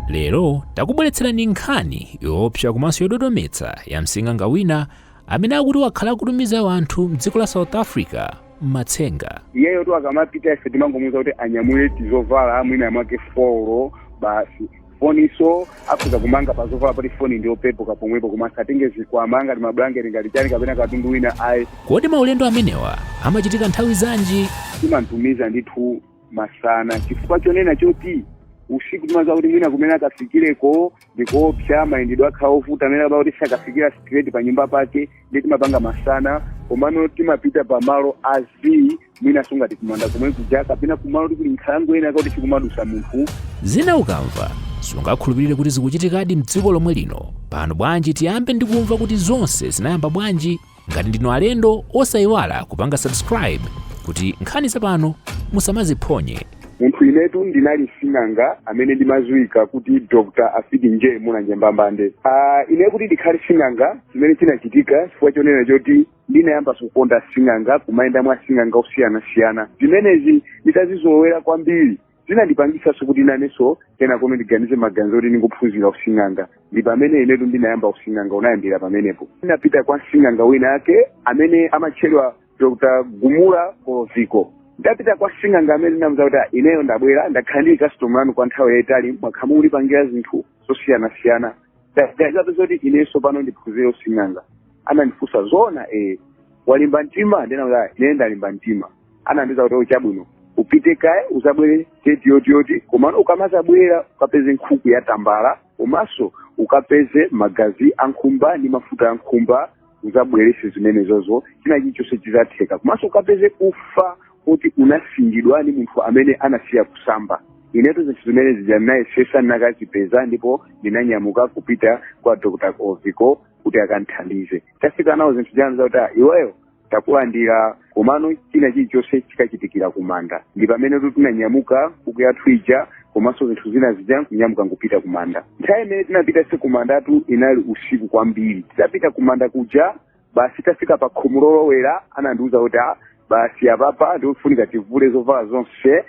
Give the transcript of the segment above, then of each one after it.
lero takubweretserani nkhani yoopsa komanso yododometsa ya msing'anga wina amene akuti wakhala akutumiza anthu mdziko la south africa m'matsenga iyeyotu akamapita ife timangomuuza kuti anyamule tizovala mwina mwake four basi foninso akhoza kumanga pa zovala poti foni ndi yopepuka pomwepo koma asatenge zikwama ngati mabulangeti ngati chani kapena katundu wina ayi kodi maulendo amenewa amachitika nthawi zanji timamtumiza ndithu masana chifukwa chonena choti usiku timadziwa kuti mwina kumene akafikireko ndi koopsa mayendedwe akhala ovuta amene akaba kuti sakafikira straight pa nyumba pake ndiye timapanga masana komano timapita pa malo a zii mwinanso ngati kumanda komwe kuja kapena kumalo kuti kuli nkhalango ina kuti sikumadusa munthu zina ukamva sungakhulupirire kuti zikuchitikadi mdziko lomwe lino pano bwanji tiyambe ndi kumva kuti zonse zinayamba bwanji Ngati ndinu alendo osaiwala kupanga subscribe kuti nkhani zapano musamaziphonye. munthu inetu ndinali sing'anga amene ndimadziwika kuti dr afiti nje mulanje mbambande ah, ine kuti ndikhale sing'anga chimene chinachitika chifukwa chonena choti ndinayamba zokonda sing'anga kumayenda mwa asing'anga osiyanasiyana zimenezi nditazizolowera kwambiri zinandipangisanso kuti nanenso kenakono ndiganize maganizo oti ndingophunzira using'anga ndi pomwe inetu ndinayamba using'anga unayambira pamenepo ndinapita kwa msing'anga wina ake amene amatchedwa dr gumula koloviko nditapita kwa msing'anga amene ndinamuuza kuti "Ah, ineyo ndabwera ndakhala ndili kasitomala anu kwa nthawi yayitali mwakhala mukundipangira zinthu zosiyanasiyana ndaganizapo zoti inenso pano ndiphunzire using'anga anandifunsa zoona ee walimba mtima ndinamuza ine ndalimba mtima anandiuza kuti chabwino upite kaye uzabwere deti yoti yoti komano ukamazabwera ukapeze nkhuku ya tambala komanso ukapeze magazi a nkhumba ndi mafuta a nkhumba uzabwerese zimenezozo china chilichonse chizatheka komanso ukapeze ufa oti unasingidwa ndi munthu amene anasiya kusamba inetu zinthu zimene zija ndinayesesa ndinakazipeza ndipo ndinanyamuka kupita kwa dr oviko kuti akandithandize tafika nawo zinthu zija anandiuza kuti "Ah, iweyo takulandira komano china chilichonse chikachitikira kumanda ndi pamene tinanyamuka nkhuku yathu ija komanso zinthu zina zija kunyamuka nkupita kumanda nthawi imene tinapitanso kumandatu inali usiku kwambiri titapita kumanda kuja basi tafika pa khomo lolowera anandiuza kuti "Ah, basi apapa ndiofunika tivule zovala zonse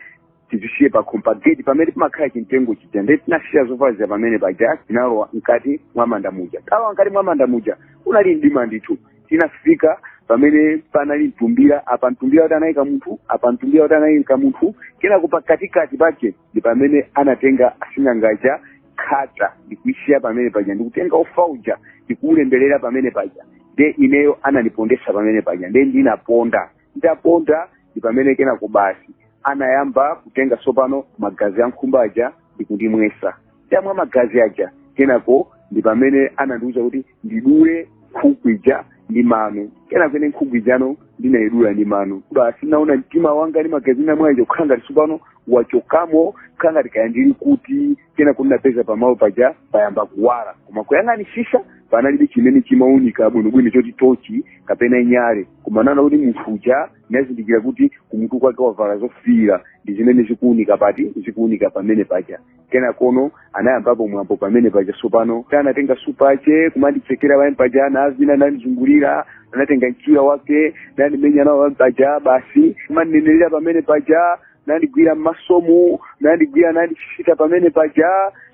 tizisiye pakhomo pa gate pamene pamakhala chimtengo chija nde tinasiya zovala zija pamene paja tinalowa mkati mwa manda muja talowa mkati mwa manda muja kunali mdima ndithu tinafika pamene panali mtumbira apa mtumbira kuti anayika munthu apa mtumbira kuti anayika munthu kenako pakatikati pake ndi pamene anatenga asing'angaja khata ndikuisiya pamene paja ndikutenga ufa uja ndikuulemberera pamene paja nde ineyo anandipondesa pamene paja nde ndinaponda ndaponda ndi pamene kenako basi anayamba kutenga tsopano magazi a nkhumba aja ndi kundimwesa ndamwa magazi aja kenako ndi pamene anandiwuza kuti ndidule nkhuku ija ndi mano kenako ine nkhuku ijano ndinayidula ndi mano basi naona mtima wanga ndi magazi namwa aja kukhala ngati tsopano wachokamo kukhala ngati kaya ndili kuti kenako napeza pamalo paja payamba kuwala koma kuyang'anisisa panalibe chimene chimaunika bwinobwino choti tochi kapena nyale koma naona kuti munthu uja nazindikira kuti kumutu kwake wavala zofiira ndi zimene zikuunika pati zikuunika pamene paja kenakono anayambapo mwambo pamene paja sopano anatenga supa ache kumanditsekera pamene paja anavina anandizungulira anatenga mchira wake nandimenya nawo pamene paja basi kumandinenerera pamene paja nandigwira mmasomu nandigwira nandisita pamene paja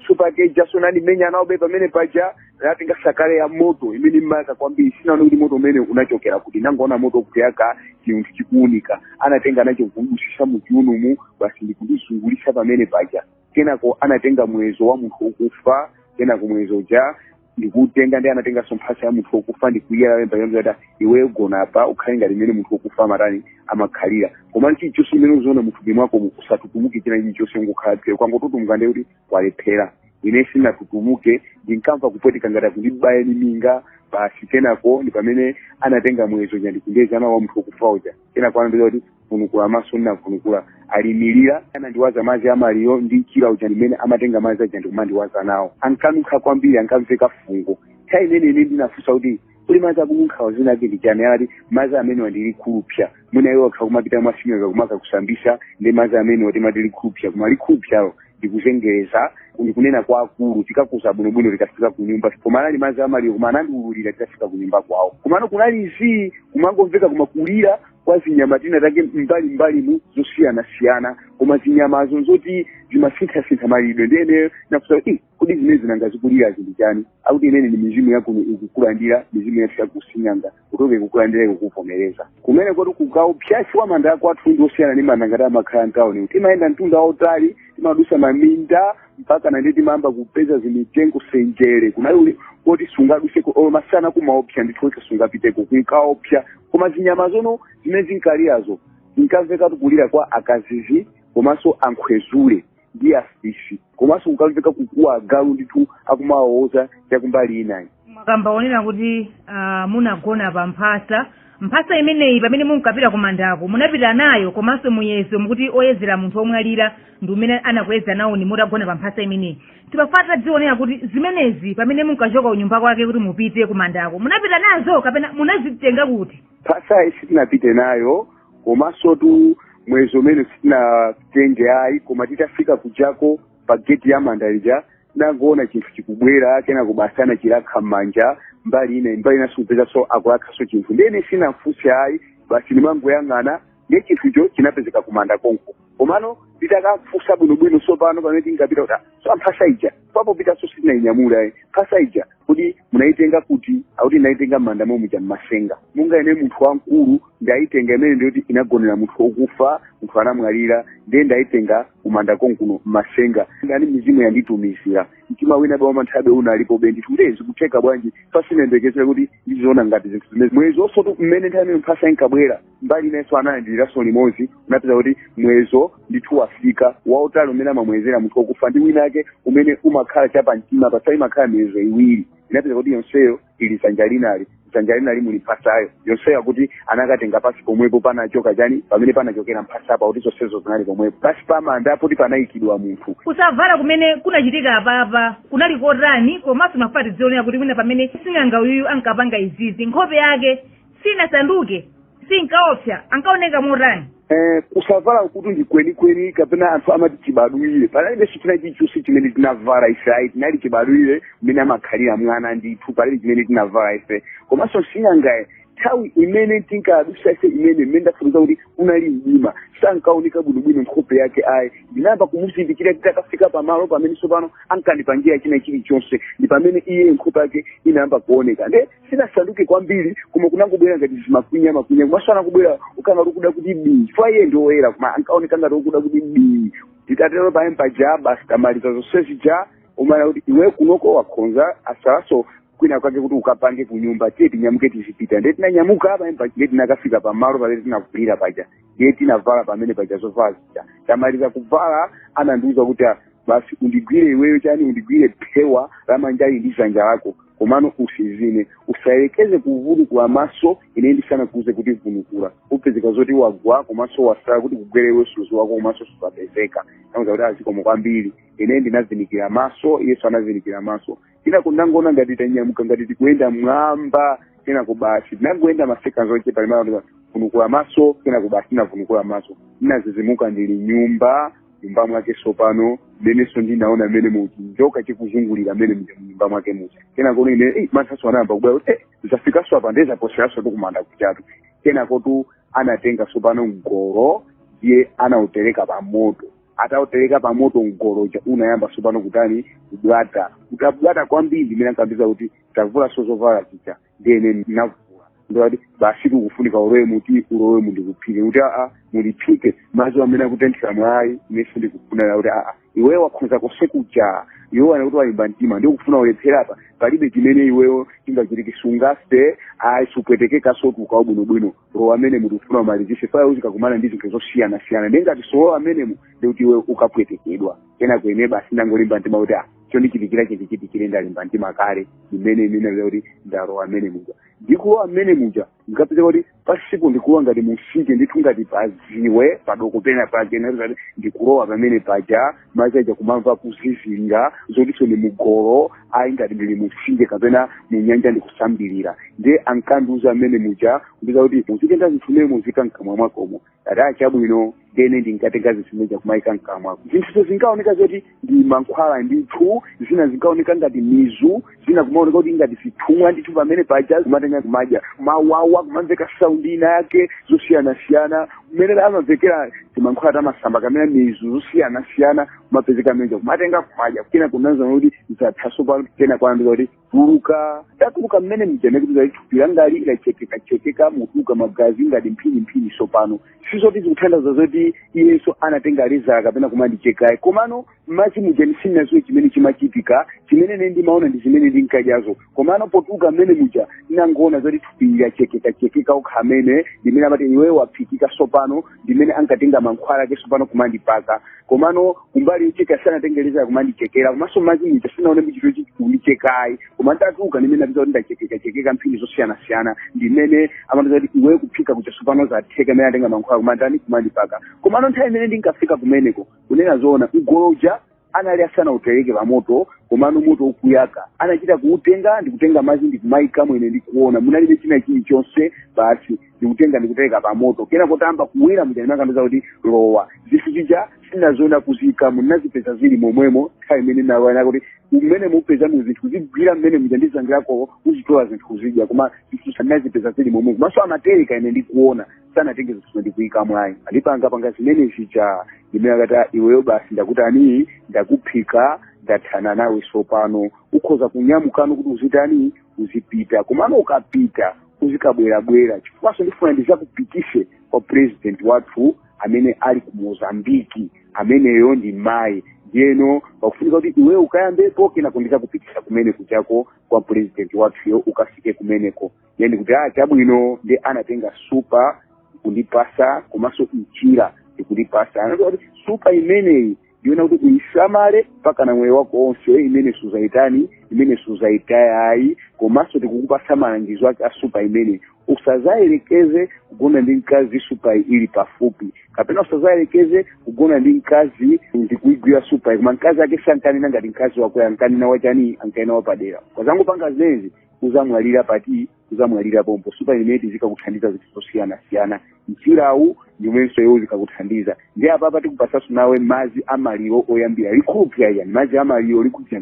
supake ijaso nandimenya nawobe pamene paja natenga sakale ya moto imene imayaka kwambiri sinaone kuti moto umene unachokera kuti nangoona moto kuyaka chinthu chikuunika anatenga nacho kudusisa muchiunomu basi ndikundizungulisa pamene paja kenako anatenga mwezo wa munthu wokufa kenako mwezo uja ndikutenga ndiye anatenganso mphasa ya munthu wokufa ndikuyala pamene paja kuti iweyo gona apa ukhale ngati mmene munthu wokufa amatani amakhalira koma chilichonse chimene uziona muthupi mwako usatutumuke china chilichonse ungokhala phe ukangotutumuka ndiye kuti walephera ine sinatutumuke ndinkamva kupweteka ngati akundibaya ni minga basi kenako ndi pamene anatenga mwezo uja ndikundeza nawo wa munthu wokufa uja kenako anandiuza kuti vunukula maso ndinavunukula ali imirira anandiwaza madzi amaliyo ndi mchira uja ndimene amatenga madzi aja ndikumandiwaza nawo ankanunkha kwambiri ankamveka fungo nthawi imene ine ndinafunsa kuti kodi madzi akununkhawo dzina lake ndi chani ati madzi amenewa ndi likhulupsa mwina iwo akha kumapita mwa sing'anga kumakakusambisa ndi madzi amenewa timati likhulupsa koma likhulupsalo ndikuzengereza ndikunena kwa akulu tikakuuza bwinobwino tikafika ku nyumba koma anali madzi amaliyo koma anandiululira tikafika ku nyumba kwawo komano kunali zii kumangomveka koma kulira kwa zinyama tina take mbali mbalimu zosiyanasiyana koma zinyamazo nzoti zimasinthasintha maliridwe nde ine nafusa kuti "Eh, kodi zimene zinanga zikulirazi ndi chani akuti imene ni mizimu yakuno ikukulandira mizimu yathu yakusing'anga kuti oke ikukulandira ikukuvomereza kumene koti kunkaopsa chifukwa manda akwathu ndi osiyana ndi manda ngati amakhala mtawuni timayenda mtunda wautali timadusa maminda mpakana nde timayamba kupeza zimitengo senjere kunali uli koti sungaduseko olo masana kumaopsa ndithu wekha sungapiteko kunkaopsa koma zinyama zono zimene zinkalirazo zinkamveka kulira kwa akazizi komanso ankhwezule ndi afisi komanso kunkamveka kukuwa agalu ndithu akumawawoza chakumbali inayi mwakamba poyera kuti ah, munagona pa mphasa mphasa imeneyi pamene munkapita kumandako munapita nayo komanso muyezo mukuti oyezera munthu omwalira ndi umene anakuyeza nawoni mutagona pa mphasa imeneyi timafuna tidziweko kuti zimenezi pamene munkachoka kunyumba kwake kuti mupite kumandako munapita nazo kapena munazitenga kuti mphasayi sitinapite nayo komansotu muyezo umene sitinatenge ayi koma titafika kujako pa geti ya manda ija ndangoona chinthu chikubwera kenako basi anachiwakha m'manja mbali ina mbali ina zikupezekanso akuwakhanso chinthu ndiye ine sinafunse ayi basi ndimangoyang'ana ndiye chinthucho chinapezeka kumanda konko komano nditakamfunsa bwinobwino sopano pamene tinkapita kuti so mphasa ija papopitanso sitinayinyamula ayi mphasa ija kodi munaitenga kuti akuti inaitenga m'manda momwe muja mmasenga munga ine munthu wamkulu ndaitenga imene ndiyoti inagonera munthu okufa munthu anamwalira ndiye ndaitenga kumanda konkuno mmasenga ndani mizimu yanditumizira mtima wina wa manthabe unalipobe ndithu kuti zikutheka bwanji pa sinayembekezere kuti ndiziona ngati zinthu zimenezi muyezonsotu mmene nthawi imene mphasa inkabwera mbali inenso analandiriranso limodzi unapezeka kuti muyezo ndithu wafika wautali umene amamuyezera munthu wokufa ndi winawake umene umakhala chapamtima apa si imakhala miyezo iwiri inapezeka kuti yonseyo ili dzanja linali dzanja linali muli mphasayo yonseyo akuti anakatenga pasi pomwepo panachoka chani pamene panachokera mphasa apa kuti zonsezo zinali pomwepo pasi pa manda poti panayikidwa munthu kusabvala kumene kunachitika apapa kunali kotani komanso mafuna tidziwe nawo kuti mwina pamene sing'anga uyuyu ankapanga izizi nkhope yake sinasanduke sinkaopsa ankaoneka motani Eh, kusavalakutu ndi kwenikweni kapena anthu amati chibadwire panalibe china chilichonse chimene tinavala ife ayi tinali chibadwire mmene amakhalira mwana ndithu palibe chimene tinavala ife komanso sing'angayo nthawi imene tinkadusa ife imene mmene ndafotokoza kuti unali mdima sankaoneka bwinobwino nkhope yake ayi ndinayamba kumuzindikira titakafika pamalo pamene tsopano ankandipangira china chilichonse ndi pamene iye nkhope yake inayamba kuoneka nde sinasanduke kwambiri koma kunangobwera ngati zimakwinya makwinya komanso anangobwera ngati wokuda kuti bii chifukwa iye ndi woyera koma ankaoneka ngati okuda kuti bii titatero pamene paja basi tamaliza zonse zija amvana kuti iwe kunoko wakhonza watsalanso kwina kwake kuti ukapange kunyumba tiye tinyamuke tizipita ndiye tinanyamuka pamene paja ndiye tinakafika pamalo pamene tinavulira paja ndiye tinavala pamene paja zovala zija tamaliza kuvala anandiuza kuti "Ah, basi undigwire iweyo chani undigwire phewa la manjali ndi dzanja lako komano utsinzine usayerekeze kuvunukula maso ine ndisanakuuze kuti vunukula upezeka zoti wagwa komanso watsala kuti ukugwere iwe sudziwako komanso sudzapezeka nauza kuti ah zikomo kwambiri ine ndinavinikira maso iyenso anavinikira maso kenako ndangoona ngati tanyamuka ngati tikuyenda m'mwamba kenako basi tinangoyenda masekanzi ochepa ndimva vunukula maso kenako basi tinavunukula maso ndinadzidzimuka ndili m'nyumba nyumba mwake sopano inenso ndinaona mene muchinjoka chikuzungulira mmene muja mnyumba mwake muja kenako ine eh, manthaso anayamba kubwera kuti eh, zafikanso apa nde zaposeraso zakumanda kujatu kenakotu anatenga sopano mgolo ndiye anautereka pa moto atautereka pa moto mgolo uja unayamba sopano kutani kubwata utabwata kwambiri ndimene ankandiuza kuti tavulanso zovala zija ndiyeno ndinavula akuti basi kukufunika ulowe umu kuti ulowemu ndikuphike kuti aa mundiphike madzi amene akutenthera mwai ineso ndikufuna kuti aa iwewe wakhoza konse kuja iwewe anakuti walimba mtima ndikufuna ulephere apa palibe chimene iweyo chingachitike sungafe ayi supwetekekansotu ukhala bwinobwino lowa mmenemu tikufuna umalizise phaya uzikakumana ndi zinthu zosiyanasiyana nde ngati sulowa mmenemu ndiye kuti iwe ukapwetekedwa kenako ine basi ndangolimba mtima kuti ah, chondichitikira chindichitikire ndalimba mtima kale ndimene ine ndikupeza kuti ndalowa mmene muja ndikulowa mmene muja ndikapeza kuti basi ndikulowa ngati mumtsinje ndithu ngati paziwe patoko pena pake ndikati ndikulowa pamene paja madzi aja kumamva kuzizirira zotinso ndi mumgolo ayi ngati ndili mumtsinje kapena munyanja ndikusambirira ndiye ankandiuza mmene muja ndiza kuti uzitenga zinthu mmenemu uziika mkamwa mwakomo ati aa chabwino ndiyeno ndinkatenga zinthu zimenezo kumayika mkamwa zinthuzo zinkaoneka zoti ndi mankhwala ndithu zina zinkaoneka ngati mizu zina kumaoneka kuti ngati zithumwa ndithu pamene paja kumatenga kumadya mawawa kumamveka saundi ina yake zosiyanasiyana kumene amamvekera timankhwala tamasamba kapena mizu zosiyanasiyana kumapezeka mmene muja kumatenga kumadya kenako naona kuti zatha tsopano kenako anandiuza kuti tuluka ndatuluka mmene muja ine kuti ngati thupi langali lachekekachekeka mutuluka magazi ngati mphiniphini tsopano sizoti zikutanthauza zoti iyenso anatenga lezala kapena kumandicheka ayi komano mmadzi muja ine sinaziwe chimene chimachitika chimene ine ndimaona ndi zimene ndinkadyazo komano potuluka mmene muja ndinangoona zoti thupi lachekekachekeka lokha mmene ndimene amati iwe waphikika tsopano ndimene ankatenga mankhwala ake tsopano kumandipaka komano kumbali yocheka sanatenge leza kumandichekera komanso mmadzi muja sinaone kuti chikundicheka ayi koma ndatuluka ndimene napeza kuti ndachekekachekeka mphini zosiyanasiyana ndimene amandiuza kuti iwe kuphika kuja tsopano zatheka ndimene atenga mankhwala kumanditani kumandipaka komano nthawi imene ndinkafika kumeneko kunena zoona mgolo uja anali asanautereke pamoto komano moto ukuyaka anachita kuutenga ndikutenga madzi ndikumaika mo ine ndikuona munalibe china chilichonse basi ndikutenga ndikutereka pamoto kenako utayamba kuwira muja ndim'mene ankandiuza kuti lowa zinthu zija sinazoona akuziikamo nazipeza zili momwemo nthawi imene anandiuza kuti zimene upezemo zinthu zikuwira mmene muja ndizangirako uzitola zinthu zija koma zinthuzo nazipeza zili momwemo komanso amatereka ine ndikuona sanatenge zinthu zimene ndikuika mwayi andipanga panga zimene zija ndimene akati iweyo basi ndakutani ndakuphika ndathana nawe sopano ukhoza kunyamukano kuti uzitani uzipita komano ukapita uzikabwerabwera chifukwaso ndifuna ndizakupitise kwa president wathu amene ali ku mozambiki ameneyo ndi mayi ndiyeno pakufunika kuti iweyo ukayambepo kenako ndizakupitisa kumene kujako kwa president wathuyo ukafike kumeneko ndiye ndikuti a chabwino ndiye anatenga supa kundipasa komanso mchira ndikundipasa anati kuti supa imeneyi ndiyona kuti uyisamale mpaka na moyo wako onse imene suzayitani imene suzayitayayi komanso tikukupasa malangizo ake a supa imeneyi usazayerekeze kugona ndi mkazi supa ili pafupi kapena usazayerekeze kugona ndi mkazi ndikuigwira supa koma mkazi ake sankanena ngati mkazi wako ankanena wachani ankanena wapadera ukazangopanga zimenezi uzamwalira pati uzamwalira pompo supa imeneyi izikakuthandiza zinthu zosiyanasiyana mchirawu ndi umenenso iwo uzikakuthandiza ndiye apapa tikupasaso nawe madzi amaliro oyambira likhupya yani madzi amaliro likhupya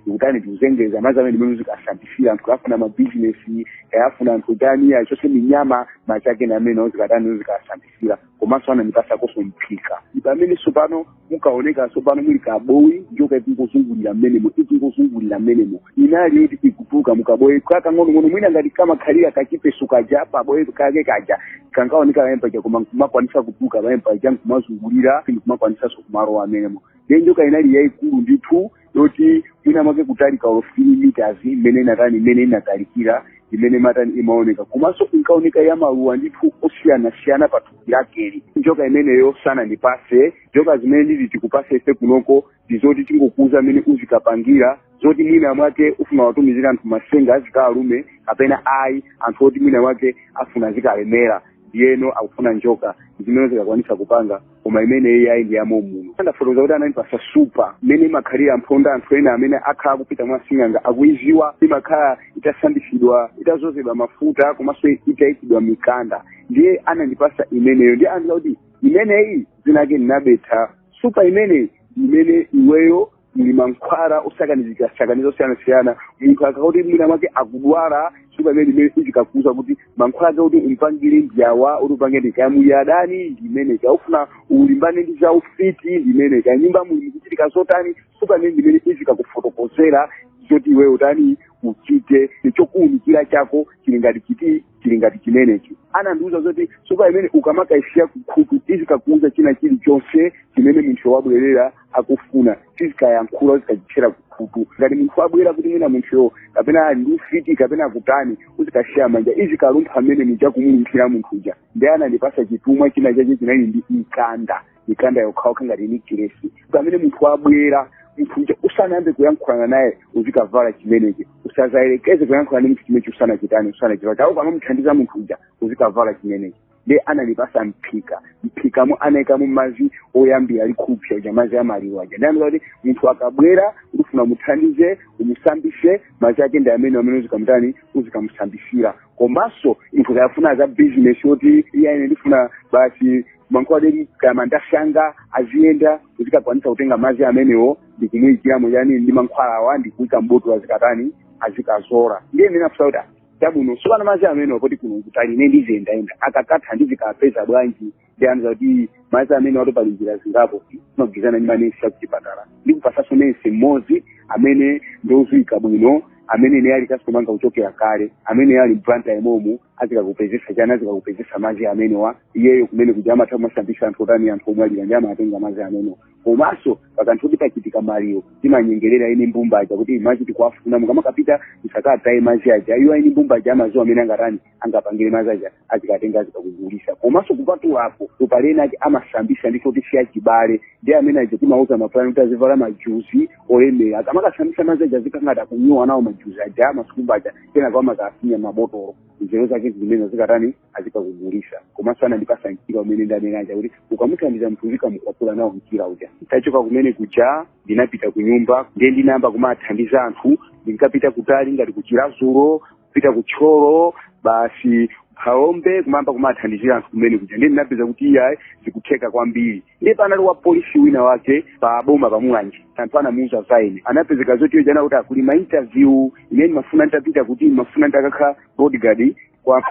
likutani tikuzengeza madzi amene ndimene uzikasambisira anthu kaya afuna mabizinesi kaya afuna anthu atani achose minyama madzi ake ndi amene uzikatani uzikasambisira komanso anandipasakonso mphika ndi pamene sopano munkaoneka tsopano muli kabowo njoka ikungozungulira mmenemo ikungozungulira mmenemo inali yoti ikutuluka mukabowo kakang'onong'ono mwina ngati kamakhalira kachipeso kaja pabowo kake kaja kankaoneka pamene paja koma nkumakwanisa kutuluka pamene paja nkumazungulira nkumakwanisanso kumalowa mmenemo ndiye njoka inali yayikulu ndithu yoti mwina mwake kutalika or 15 meters imene inatani imene inatalikira imene imatani imaoneka komanso inkaoneka ya maluwa ndithu osiyanasiyana pa thupi lakeli njoka imeneyo sanandipase njoka zimene titi tikupase ife kunoko ndizoti tingokuuza mmene uzikapangira zoti mwina mwake ufuna kuwatumizira anthu masenga azikawalume kapena ayi anthu oti mwina mwake afuna azikalemera ndiyeno akufuna njoka zimene uzikakwanisa kupanga koma imeneyi ayi ndi ya mommuno ndafotokoza kuti anandipasa supa imene imakhala ya mphonda anthu ena amene akhala akupita mwa sing'anga akuiziwa imakhala itasambisidwa itazozedwa mafuta komanso itayikidwa mikanda ndiye anandipasa imeneyo ndiye anandiuza kuti imeneyi zina lake ndi nabetha supa imeneyi ndi imene iweyo muli mankhwala osakanizika sakaniza osiyanasiyana munthu akakuti mwina mwake akudwala supa imeneyi ndi imene izikakuuza kuti mankhwala ake kuti umpangire ndiyawa kuti upange ndi kaya muli adani ndimene kaya ufuna ulimbane ndi za ufiti ndimene kaya mnyumba muli mukuchitika zotani supa imeneyi ndi imene izikakufotokozera zoti iwe utani uchite chokuunikira chako chili ngati chiti chili ngati chimenechi anandiuza zoti supa imene ukamakaisiya kukhutu izikakuuza china chilichonse chimene munthu wabwerera akufuna izikayankhula uzikachitchera kukhutu ngati munthu wabwera kuti mwina munthuyo kapena ali ndi ufiti kapena akutani uzikasiya manja izikalumpha mmenemuja kumulumphira munthu uja ndiye anandipasa chitumwa china chache chinali ndi mkanda mikanda yokhaokha ngati nekilesi pamene munthu wabwera munthu uja usanayambe kuyankhulana naye uzikavala chimenechi usazayerekeze kuyankhulana ndi munthu chimenechi usanachitani usanachitani chawo pamamuthandiza munthu uja uzikavala chimenechi ndiye anandipasa mphika mphikamo anayikamo mazi oyambira lija supa uja mazi amaliro aja ndiye anandiuza kuti munthu akabwera ukufuna umuthandize umusambise mazi ake ndi amene amene uzikamutani uzikamusambisira komanso munthu akafuna za bizinesi yoti iye ine ndifuna basi mankhwala adeti kaya mandasanga aziyenda uzikakwanisa kutenga mazi amenewo ndi kumuyikiramo yani ndi mankhwalawa ndi kuyika mbotolo azikatani azikazola ndiye ine ndinafusa kuti chabwino sopano mazi amenewa poti kuno kutali ine ndiziyendayenda akakatha ndizikapeza bwanji ndiye anandiuza kuti mazi amenewa tu pali njira zingapo timagwirizana ndi manesi akuchipatala ndikupasanso nesi mmodzi amene ndi oziwika bwino amene ine ali customer anga kuchokera kale amene ali m'Blantyre momo azikakupezesa chani azikakupezesa mazi amenewa iyeyo kumene kuja amatha kumasambisa anthu otani anthu omwalira ndiye amatenga mazi amenewa komanso pakakhala kuti pachitika maliro timanyengerera eni mbumba aja kuti mazi tikuwafuna mukamakapita musakataye mazi aja iwo eni mbumba aja amaziwa mmene angatani angapangire mazi aja azikatenga azikakugulisa komanso kupatula apo tu pali ena ake amasambisa ndi oti si achibale ndiye amene aja timawauza mapulani kuti azivala majuzi olemera akamakasambisa mazi aja azikakhala kunyowa nawo majuzi aja amasiku mbaja kenako amakafinya mmabotolo nzeru zake zimene zikatani azikakugulisa komanso anandipasa mchira umene ndanena uja kuti ukamuthandiza munthu uzikamukwapula nawo mchira uja nditachoka kumene kuja ndinapita kunyumba ndiye ndinayamba kumathandiza anthu ndinkapita kutali ngati ku Chiradzulu pita ku Thyolo basi Phalombe kumayamba kumathandizira anthu kumene kuja ndiye ndinapeza kuti iyayi zikutheka kwambiri ndiye panali wa polisi wina wake pa boma pa Mulanje anthu anamuuza za ine anapezeka zoti ujeni kuti kuli ma interview imene ndimafuna nditapita kuti ndimafuna nditakakhala bodyguard kwa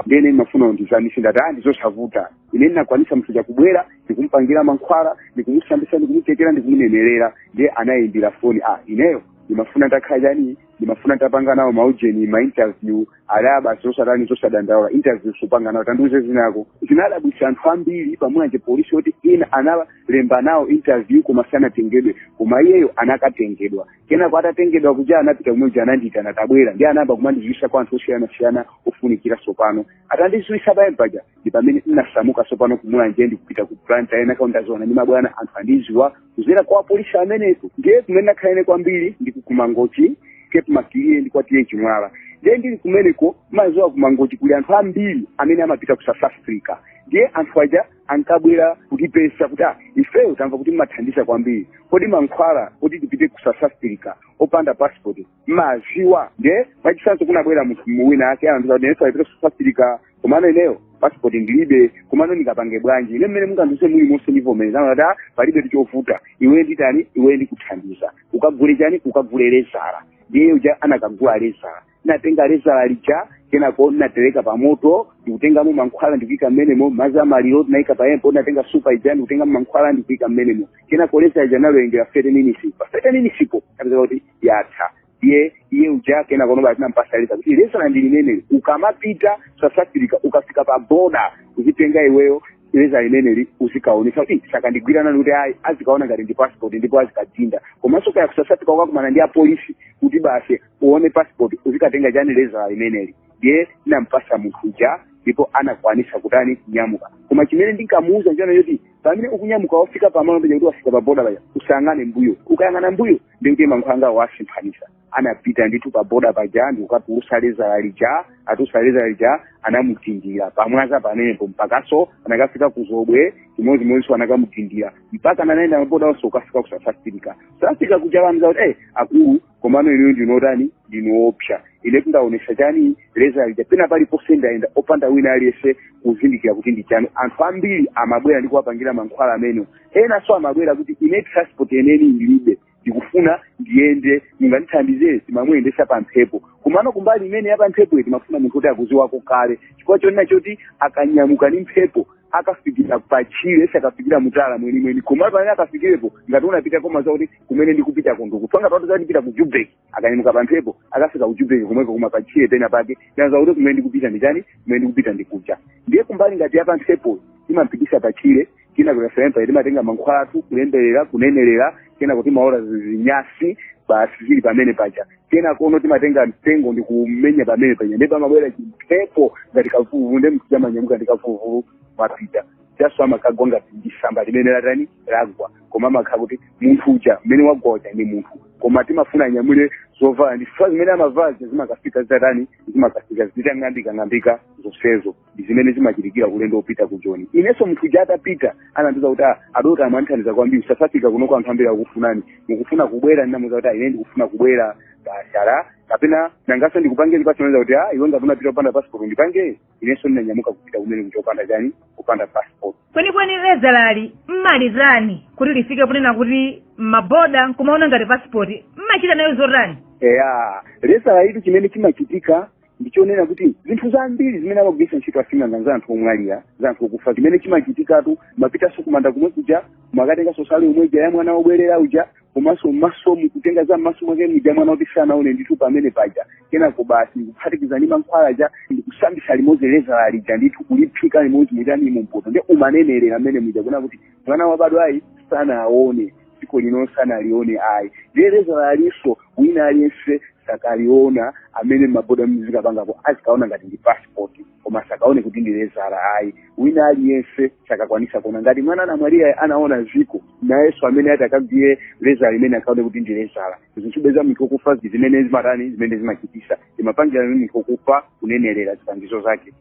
ndiye ine ndimafuna undithandize ndati ah ndizosavuta ine ndinakwanisa munthu uja kubwera ndikumpangira mankhwala ndikumusambisa ndikumutemera ndikumunenerera ndiye anayimbira foni ah ineyo ndimafuna nditakhala chani ndimafuna nditapanga nawo maujeni mainterview ndati ayi basi osatani osadandaula interview supanga nawo tandiuze zina lako zinadabwisa anthu ambiri pa Mulanje polisi oti ina analemba nawo interview koma sanatengedwe koma iyeyo anakatengedwa kenako atatengedwa kuja anapita kumene kuja anandiyitana tabwera ndiye anayamba kumandiziwisa kwa anthu osiyanasiyana ofunikira sopano atandiziwisa pamene paja ndi pamene ndinasamuka sopano ku Mulanje ndikupita ku Blantyre kenako ndaziwana ndi mabwana anthu andiziwa kuzera kwa apolisi ameneko ndiye kumene nakhalene kwambiri ndi ku mangochi cape maclear ndi kwa t/a chimwala ndiye ndili kumeneko maziwa kumangochi kuli anthu ambiri amene amapita ku south africa ndiye anthu aja ankabwera kutipeza kuti ah ifeyo tamva kuti mmathandiza kwambiri kodi mankhwala kuti tipite ku south africa opanda passport mmaziwa nde mwachitsanzo kunabwera munthu wina wake anthu kuti ineso ndipita ku south africa komano ineyo passport ndilibe komano ndingapange bwanji ine mmene mungandiuze muli monse ndivomereza na kuti ah, palibetu chovuta iwe nditani iwe ndikuthandiza ukagule chani ukagule lezala ndiye uja anakagula lezala natenga lezala lija kenako natereka pamoto ndikutengamo mankhwala ndikuika mmenemo mazi amaliro naika payempo natenga supa ija ndikutengamo mankhwala ndikuika mmenemo kenako lezala ija naliwerengera 30 minutes pa 30 minutes po kapeza kuti yatha iye iye uja kenakono basi nampasa lezala kuti lezala ndi limeneli ukamapita south africa ukafika pa boda uzitenga iweyo lezala limeneli uzikaonesa kuti sakandigwira nani kuti ayi azikaona ngati ndi passport ndipo azikadinda komanso kaya ku south africa ukakumana ndi apolisi kuti basi uone passport uzikatenga chani lezala limeneli ndiye nampasa munthu uja ndipo anakwanisa kutani kunyamuka koma chimene ndinkamuuza nchonena choti pamene ukunyamuka wafika pamalo pena kuti wafika pa boda paja usayang'ane mbuyo ukayang'ana mbuyo ndikuti mankhwala angawo wasemphanisa anapita ndithu pa boda paja ndikukatulusa lezala lija atulusa lezala lija anamudindira pa mwanza pamenepo mpakaso anakafika kuzobwe chimodzimodzinso anakamudindira mpaka anaenda maboda onse kukafika ku south africa south africa kuja namuuza kuti eh akulu komano inuyo ndinu otani ndinu oopsa inetu ndaonesa chani lezala lija pena paliponse ndaenda opanda wina aliyense kuzindikira kuti ndi chani anthu ambiri amabwera ndi kuwapangira mankhwala amene enanso amabwera kuti ine transport yeniyeni ndilibe ndikufuna ndiyende mungandithandize timamuyendesa pa mphepo komano kumbali imene ya pa mphepo iyi timafuna munthu oti akuziwako kale chifukwa chonena choti akanyamuka ndi mphepo akafikira patchire sakafikira mutauni mwenimweni komano pamene akafikirepo ngati unapita kumaziwa kuti kumene ndikupita kondoku tsono ngati wati ndipita ku joburg akanyamuka pa mphepo akafika ku joburg komweko koma patchire pena pake aziwa kuti kumene ndikupita nditani kumene ndikupita ndi kuja ndiye kumbali ngati ya pa mphepo timampitisa patchire kina kuyasempa timatenga mankhwala athu kulemberera kunenerera kenako timaola zinyasi basi zili pamene paja kenakono timatenga mtengo ndi kumenya pamene paja ndipo amabwera chimphepo ngati kavuluvulu ndiye munthu uja amanyamuka ndi kavuluvulu amapita chaso amakagwa ngati ndisamba limene latani lagwa koma amakhala kuti munthu uja mmene wagwa uja ndi munthu koma timafuna anyamule zovala ndi chifukwa zimene amavala zija zimakafika zitatani zimakafika zitang'ambikang'ambika zonsezo ndi zimene zimachitikira ulendo wopita ku joni inenso munthu uja atapita anandiuza kuti "Ah, adokotala mwandithandiza kwambiri south africa kunoko anthu ambiri akukufunani akufuna kubwera ndinamuuza kuti "Ah, ine ndikufuna kubwera basi ala kapena nangaso ndikupange chiphaso nauza kuti "Ah, iwe ngati unapita opanda passport ndipange inenso ndinanyamuka kupita kumene kuja opanda chani kupanda passport kwenikweni lezalali mmalitani kuti lifike ponena kuti mmaboda nkumaona ngati pasipoti mmachita nayo zotani eya lezalalitu chimene chimachitika ndichonena kuti zinthu zambiri zimene amagwiritsa ntchito asing'anga za anthu omwalira za anthu okufa chimene chimachitikatu mapitanso kumanda kumwe kuja mukatenganso nsalu imwe ija ya mwana wobwerera uja komanso m'maso mukutenga za m'maso mwake muja mwana kuti sanaone ndithu pamene paja kenako basi ndikuphatikiza ndi mankhwala aja ndikusambisa limodzi lezala lija ndithu kuliphika limodzi mujani mumpoto ndikumanenerera mmene muja kunena kuti mwana wabadwa ayi sanaone dziko lino sanalione ayi ndiye lezalalinso wina aliyense sakaliona amene mmaboda muzikapangako azikaona ngati ndi passport koma asakaone kuti ndi lezala ayi wina aliyense sakakwanisa kuona ngati mwana anamwalira sanaona ziko nayenso amene ati akagwire lezala limeneli asakaone kuti ndi lezala zinthu za munthu okufa zimene zimatani zimene zimachitisa zimapangira amene munthu okufa kunenerera zipangizo zake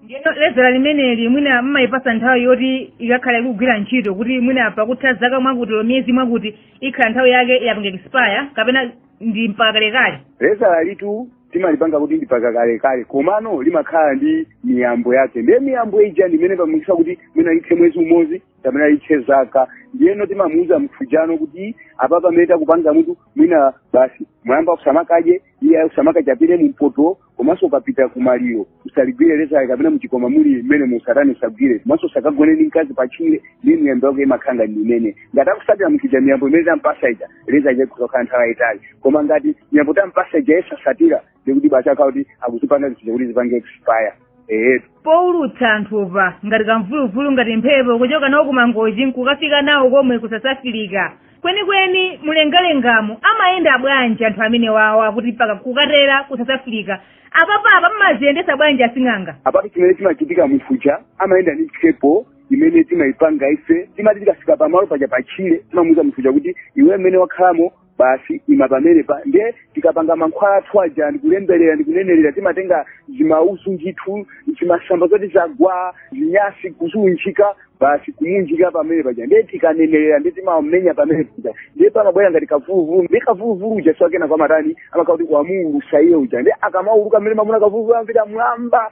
ndiyeno lezala limeneli mwina mumayipatsa nthawi yoti ikakhala ikugwira ntchito kuti mwina pakutha zaka mwakuti olo miyezi mwakuti ikhala nthawi yake yapanga expire kapena ndi mpaka kalekale lezalalitu timalipanga kuti ndi mpaka kalekale komano limakhala ndi miyambo yake ndiye miyambo ija ndi imene imapangitsa kuti mwina lithe mwezi umodzi kapena lithe zaka ndiyeno timamuuza munthu ujano kuti apa pamene takupanga mutu mwina basi mwayamba usamakadye iwe usamakatapire mumpoto komanso ukapita kumaliro usaligwire lezala kapena muchikwama muli mmene musatani usagwire komanso usakagone ndi mkazi pachire ndi miyambo yake imakhala ndi imene ngati akutsatira munthu uja miyambo imene tampatsa ija lezala lija kudzakhala nthawi yayitali koma ngati miyambo tampatsa ija iye satsatira ndikuti basi akhala kuti akuzipanga zinthu kuti zipange expire eyetu poulutsa anthupa ngati kamvuluvulu ngati mphepo kuchoka nawo kumangochi nkukafika nawo komwe ku south africa kwenikweni mulengalengamo amayenda bwanji anthu amenewawa kuti mpaka kukatera ku south africa apapapa mmaziyendesa bwanji asing'anga apatu chimene chimachitika mufuja amayenda ndi mphepo imene timayipanga ife timati tikafika pamalo paja patchire timamuuza munthu uja kuti iwe mmene wakhalamo basi ima pamenepa ndiye tikapanga mankhwala athu aja ndikulemberera ndikunenerera timatenga zimauzu ndithu zimasamba zoti zagwa zinyasi kuziunjika basi kumunjika pamene paja ndiye tikanenerera ndiye timamenya pamene paja ndiye pamabwera ngati kamvuluvulu ndiye kamvuluvulu uja si wakenako amatani amakhala kuti wamuulutsa iye uja ndiye akamauluka mmene mumamuona kamvuluvulu amapita mmwamba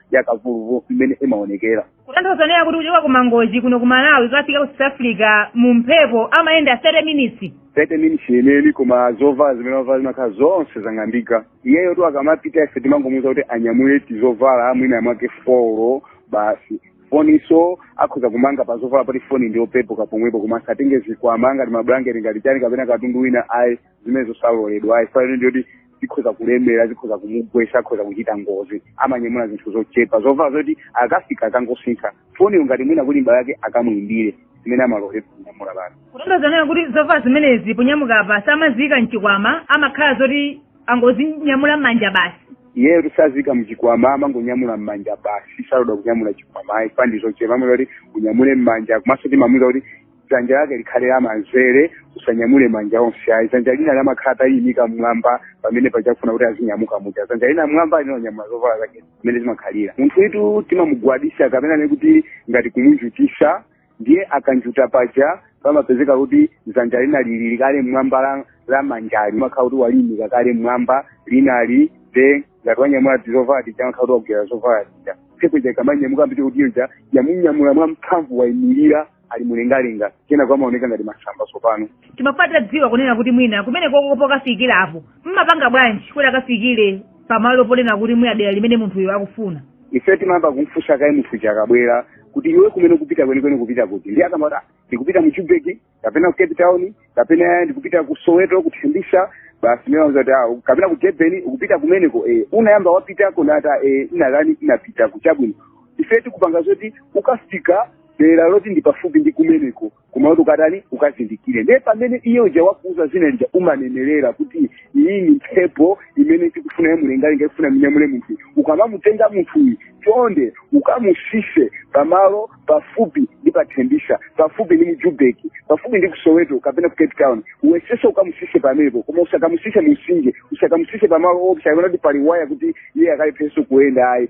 ya kamvuluvulu imene imaonekera kutanthauza naye kuti kuchoka ku mangochi kuno ku malawi kukafika ku south africa mu mphepo amayenda 30 minutes 30 minutes yeneni koma zovala zimene wavala zimakhala zonse zang'ambika iyeyotu akamapita ife timangomuuza kuti anyamule tizovala mwina mwake folo basi foninso akhoza kumanga pa zovalapa poti foni ndiyopepuka pomwepo koma asatenge zikwama ngati mabulangete ngati chani kapena katundu wina ayi zimene zosaloledwa ayi ifayo ndi yoti zikhoza kulemera zikhoza kumugwesa akhoza kuchita ngozi amanyamula zinthu zochepa zovala zoti akafika akangosintha foniyo ngati mwina kuli m'bale wake akamuimbire zimene amaloledwa kunyamula basi kutanthauza kunena kuti zovala zimenezi ponyamuka apa samaziyika mchikwama amakhala zoti angozinyamula m'manja basi iyeyo sitiziyika mchikwama amangonyamula m'manja basi saloledwa kunyamula chikwama ayi ifa ndi zochepa amati unyamule m'manja komanso timamuuza kuti dzanja lake likhale lamanzere usanyamule manja onse ayi dzanja lina limakhala taliyimika mmwamba pamene akufuna kuti azinyamuka muja dzanja lina mmwamba lina lonyamula zovala zake zimene zimakhalira munthuyotu timamugwadisa kapena ne kuti ngati kumunjutisa ndiye akanjuta paja pamapezeka kuti dzanja lina lili kale mmwamba la, la manja limakhala kuti waliyimika kale mmwamba linali nde ngati wanyamula tizovala tija amakhala kuti wagwira zovala tija mphepo ija ikamanyamuka ndiye kuti ija yamunyamula mwamphamvu wayimirira ali mulengalenga kenako amaoneka ngati masamba tsopano timafuna tidziwe kunena kuti mwina kumeneko pokafikira apo mmapanga bwanji kuti akafikire pamalo ponena kuti mwina dera limene munthuyo akufuna ife timayamba kumfunsa kaye munthu uja akabwera kuti iwe kumene ukupita kwenikweni ukupita kuti ndiye akamati "Ah, ndikupita mu jubeki kapena ku cape town kapena ndikupita ku soweto kuthembisa basi timawauza kuti "Ah, kapena ku durban ukupita kumeneko eh, unayamba wapitako n'kuti eh, ine kale ndinapitako chabwino ife tikupanga zoti ukafika dera loti ndi pafupi ndi kumeneko kumati ukatani ukazindikire ndiye pamene iye uja wakuuza zina lija umanenerera kuti iyi ni mphepo imene tikufuna yamulengalenga ikufuna imunyamule munthuyi ukamamutenga munthuyi chonde ukamusise pamalo pafupi ndi pathembisa pafupi ndi mujubeki pafupi ndi kusoweto kapena ku cape town uwesese ukamusise pamenepo koma usakamusise mumsinje usakamusise pamalo oona kuti pali waya kuti iye akalepheso kuyenda ayi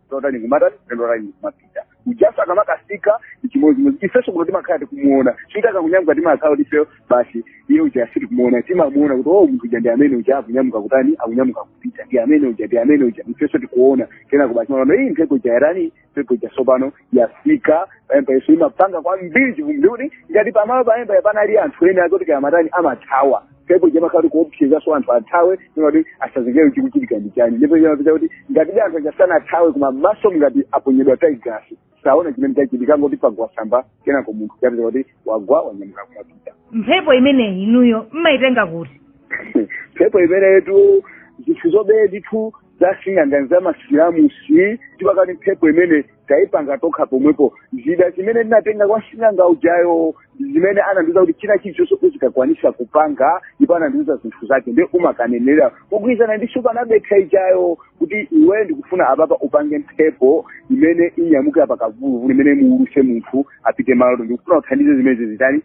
totani kumatani ndalani kumapita ujaso akamakasika chimodzimodzi ifeso kuno timakhala tikumuona chifukwa akamanyamuka timakhala kuti ifeyo basi iye uja sitikumuona timamuona kuti oh munthu uja ndi amene uja akunyamuka kutani akunyamuka kupita ndi amene uja ndi amene uja ifeso tikuona kenako basi timaona iyi mphepo uja yatani mphepo uja sopano yafika poyamba iyeso imapanga kwambiri chivumbi kuti ngati pamalo poyamba panali anthu ena kuti kaya amatani amathawa mphepo ija imakhala kuopsezaso anthu athawe kuti asazindikire chikuchitika ndi chani ndipo zimapezeka kuti ngati ndi anthu aja sanathawe koma maso ngati aponyedwa tiyagasi saona chimene chachitika ngati pagwa samba kenako munthu uja apeza kuti wagwa wanyamuka kumapita mphepo imeneyi inuyo mmayitenga kuti mphepo imeneyitu zinthu zobeba ndithu za sing'anga za masalamusi tipakati mphepo imene taipanga tokha pomwepo zida zimene ndinatenga kwa sing'anga ujayo zimene anandiuza kuti china chilichonse uzikakwanisa kupanga ndipo anandiuza zinthu zake nde umakanenera kugwirizana ndi nsupa anabekha ijayo kuti iwe ndikufuna apapa upange mphepo imene inyamuke apa kavuluvulu imene imuuluse munthu apite malo oti ndikufuna uthandize zimene izitani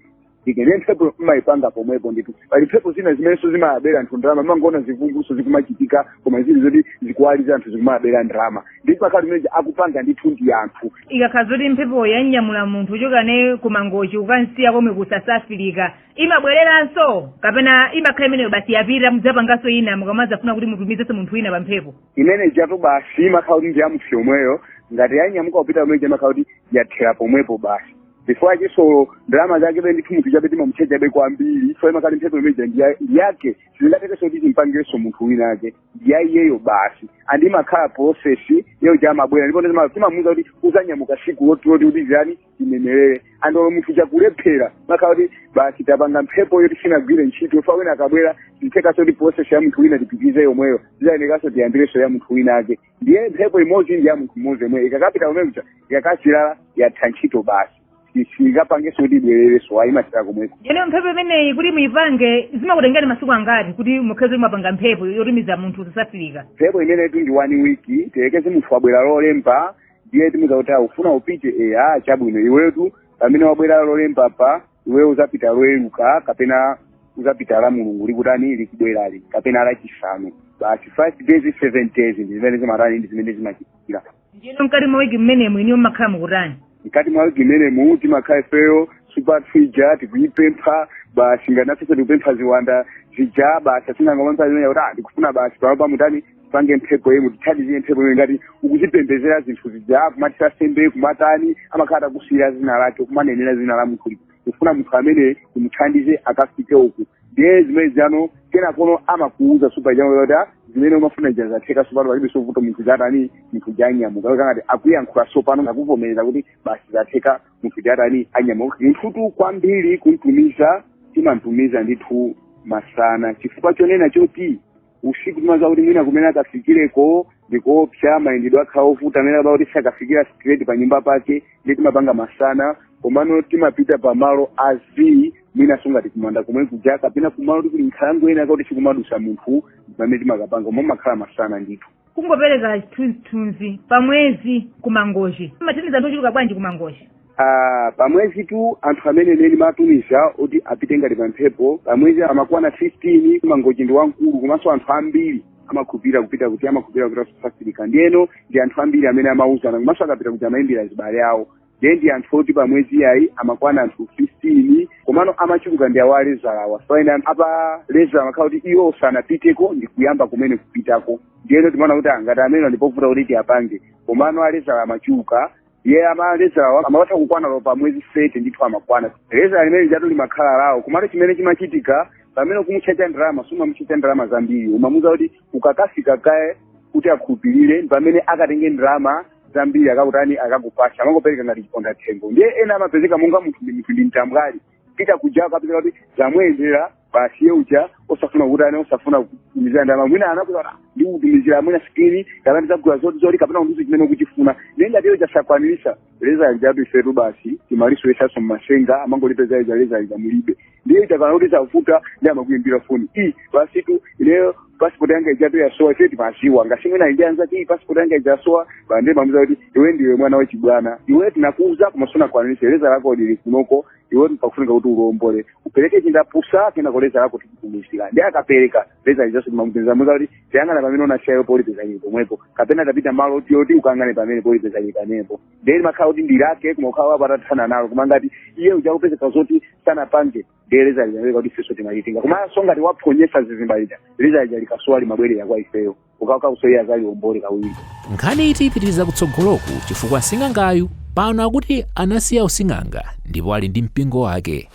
ikene mphepo imayipanga pomwepo ndithu pali mphepo zina zimenenso zimayabera anthu ndalama mangoona zivunguzo zikumachitika koma zili zoti zikuwaliriza anthu zikumayabera ndalama ndi zimakhala zimene zija akupanga ndithu ndi anthu ikakhala zoti mphepo yanyamula munthu kuchokera kumangochi kukamusiya komwe ku south africa imabwereranso kapena imakhala imeneyo basi yapita mudzapanganso ina mukamadzafuna kuti mutumizenso munthu wina pa mphepo imene ija apo basi imakhala kuti ndi ya munthu yemweyo ngati yanyamuka kupita kumene kuja imakhala kuti yathera pomwepo basi chifukwa chisolo ndalama zake be ndithu munthu chabe timamutchaja kwambiri chifukwa imakhala mphepo imene ija ndiyake sizingathekenso kuti timpangirenso munthu wina ake ndi ya iyeyo basi and imakhala prosesi yeyo ija amabwera ndipo ndizima- timamuuza kuti uzanyamuka siku loti loti kuti zani imemerere and olo munthu uja akalephera imakhala kuti basi tapanga mphepo yoti sinagwire ntchito chifukwa wina akabwera sizithekanso kuti prosesi ya munthu wina tipitirize yomweyo zizayenekanso tiyambirenso ya munthu wina ake ndiye mphepo imodzi ndi ya munthu mmodzi yemweyo ikakapita kumene kuja ikakathera yatha ntchito basi Si- singapangenso kuti ibwererenso ayi imathera komweko ndiyeno mphepo imeneyi kuti muyipange zimakutengani masiku angati kuti mukhale kuti mwapanga mphepo yotumiza munthu ku south africa mphepo imeneyitu ndi one week tiyerekeze munthu wabwera lolemba ndiye timuuza kuti ukufuna upite eya chabwino iwetu pamene wabwera lolemba pa iwe uzapita loweruka kapena uzapita la mulungu likutani likubwerali kapena lachisanu basi five days seven days ndi zimene zimatani ndi zimene zimachitikira ndiyeno mkati mwa wiki mmenemu iniyo mmakhala mukutani mkati mwa wiki mmenemu timakhala ifeyo supa zija tikuzipempha basi nganafenso tikupempha ziwanda zija basi asing'anga amapempha zimene kuti ah ndikufuna basi pano pamutani tipange mphepo yemwe tithandizire mphepo yemwe ngati ukuzipembezera zinthu zija kumathira sembe kumatani amakhala utazisiyira zina lake kumanenera zina la munthu tikufuna munthu ameneyu mumuthandize akafike uku ndiye zimene zano kenako amakuuza supa ija kuti "Ah, zimene umafuna zija zatheka sopano palibe vuto munthu zatani munthu uja anyamuka Kapena ngati akuyankhula sopano ngati akuvomereza kuti basi zatheka munthu uja atani anyamuka munthutu kwambiri kumtumiza timamtumiza ndithu masana chifukwa chonena choti usiku timadziwa kuti mwina kumene akafikireko ndi koopsa mayendedwe akhala ovuta mwina akakhala kuti sakafikira straight pa nyumba pake ndiye timapanga masana komano timapita pa malo a zii mwina so ngati kumanda komwe kuja kapena kumalo koti kuli nkhalango ena ake oti sikumadutsa munthu pamene timakapanga koma kumakhala masana ndithu kungopereka chithunzithunzi pa mwezi ku mangochi mumathandiza anthu ochuluka bwanji ku mangochi Ah, pamwezitu anthu amene ine ndimatumiza oti apite ngati pamphepo pamwezi amakwana 15 mangochi ndi wamkulu komanso anthu ambiri amakhulupirira kupita kuti amakhulupirira kupita ku south africa ndiyeno ndi anthu ambiri amene amauzana komanso akapita kuti amayimbira azibale awo ndiye ndi anthu oti pa mwezi ayi amakwana anthu 15 komano amachuluka ndi awa alezalawa so ena apa lezala amakhala kuti iwo sanapiteko ndi kuyamba kumene kupitako ndiyeno timaona kuti ngati amene ndipovuta kuti tiwapange komano alezala amachuluka ee alezalawa amatha kukwana pa pa mwezi 30 ndithu amakwana lezala limene lijatu limakhala lawo komano chimene chimachitika pamene ukumutchaja ndalama sumamutchaja ndalama zambiri umamuuza kuti ukakafika kaye kuti akhulupirire pamene akatenge ndalama zambiri akakutani akakupatsa amangopereka ngati chiponda thengo ndiye ena amapezeka monga munthu ndi mtambwali pita kuja akapezeka kuti zamuyendera basi iye uja osafuna kutani osafuna kutumizira ndalama mwina anakuti ndikutumizira mwina sikini kapena ndizagula zoti zoti kapena ndizo chimene ukuchifuna ndiye ngati iye sanakwanirise lezala lijatu ifetu basi timalisowesanso mmasenga amangolipeza lezala lija mulibe ndiye ikakhala kuti zavuta ndiye amakuyimbira foni ee basitu ineyo pasipoti yanga ijatu yasowa ife timaziwa ngati mwina ija lezala ati pasipoti yanga ijasowa basi nde timamuuza kuti iwe ndiwe mwana wachibwana iwe tinakuuza koma sunakwanirise lezala lako lili kunoko iwe pakufunika kuti ulombole upereke chindapusa kenako lezala lako tikutumizira nde akapereka lezala lijaso timamuuza muuza kuti ukayang'ane pamene unasiyapo ukalipeza lili pomwepo kapena upite malo oti oti ukayang'ane pamenepo ukalipeza lili pamenepo ndiye limakhala kuti ndi lake koma ukakhala wapita wathana nalo koma ngati iye uja kupezeka zoti sanapange ndiye lezala lija ndiye kuti ifenso timalitchinga komanso ngati waphonyesa zizimba lija lezala lija likasowa limabwerera kwa ifeyo ndiye kuti nayenso iye azaliombole kawiri nkhaniyitu ipitirira kutsogoloku chifukwa sing'angayu pano akuti anasiya using'anga ndipo ali ndi mpingo wake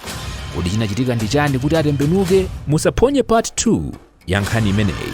kodi chinachitika ndi chani kuti atembenuke musaphonye part 2 ya nkhani imeneyi